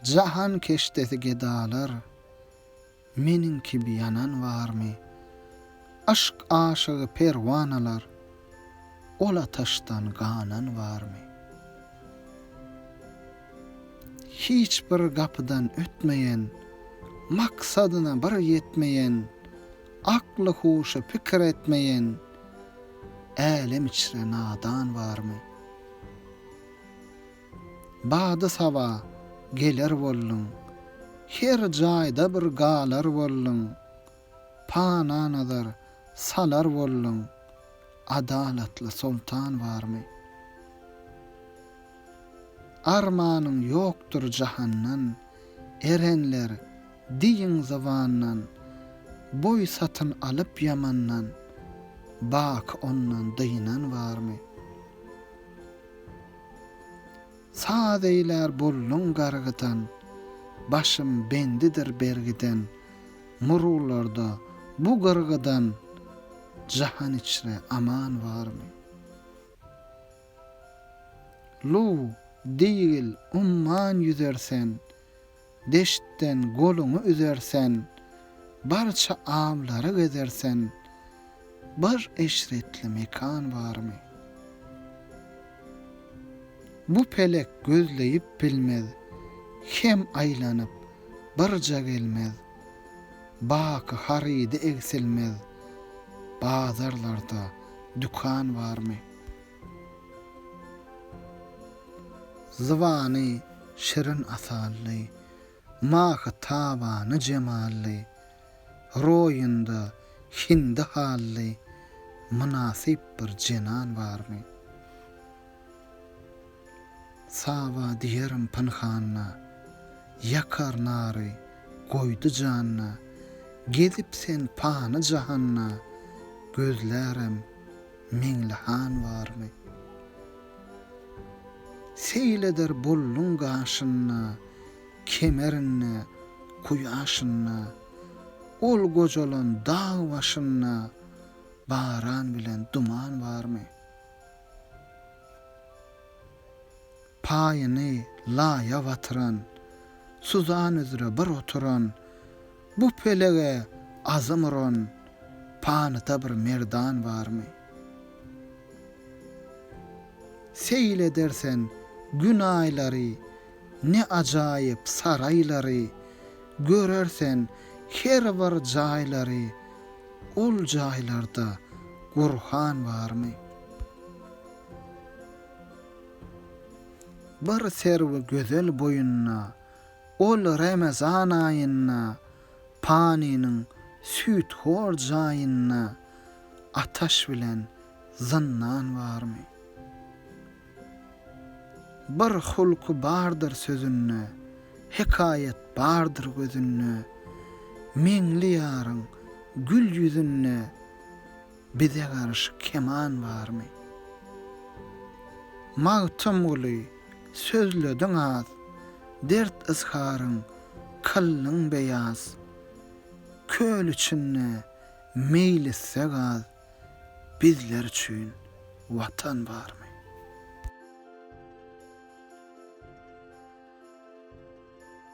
Jahan keşdesi gedalar, meniň kibi ýanan barmy? Yşk aşygy perwanalar, ol ataşdan ganan barmy? Hiç bir gapydan ötmeýän, maksadyna bir ýetmeýän, akly-huşy pikir etmeýän, älem içre nadan barmy? Bady saba geler bolduň. Her jaýda bir galar bolduň. Pana nazar salar bolduň. Adalatly soltan barmy? Armanyň ýokdur jahandan, erenler Diýiň zybandan, boý satyn alyp ýamandan, baky ondan dynan barmy? Saz eýlär bolluň gargydan, başym bendidir bergiden, murularda bu gyrgydan, jahan içre aman barmy? Luw, diýgil, umman ýüzer sen. Deştden goluňy üzersen, barça awlary gezersen, bir eşretli mekan barmy? Bu pelek gözleýip bilmez, hem aýlanyp birja gelmez, baky harydy egsilmez, bazarlarda dükan barmy? Zybany, şirin asally, Mahy tabany jemally, Roýunda hindi hally, Mynasyp bir jenan barmy? Saba diýerin pynhanda, Ýakar nary, goýdy janda, Gezip sen pany jahanda, Gözlärem Meňli han barmy? Seýil eder bolluň gaşynda, Kemerinde, kuýaşynda, Ol gojalan dag başynda, Baran bilen duman barmy? Paýyny laýa batyran. Suzan üzre bir oturan. Bu pelege azym uran. Panyda bir merdan barmy? Seýil edersen Gün aýlary, Ne ajaýyp saraýlary, Görersen her bir jaýlary, Ol jaýlarda Gurhan barmy? Bir serwi gözel boýunda, Ol Remezan aýynda, Panynyň süýthor jaýynda Ataş bilen zyndan barmy? Bir hulky bardyr sözünde, Hekaýat bardyr gözünde, Meňli ýaryň gül ýüzünde, Bize garşy keman barmy? Magtymguly, sözlediň az, Dert-yzharyň kyldyň beýaz. Köl içinde meýlisde gaz, Bizler üçin Watan barmy?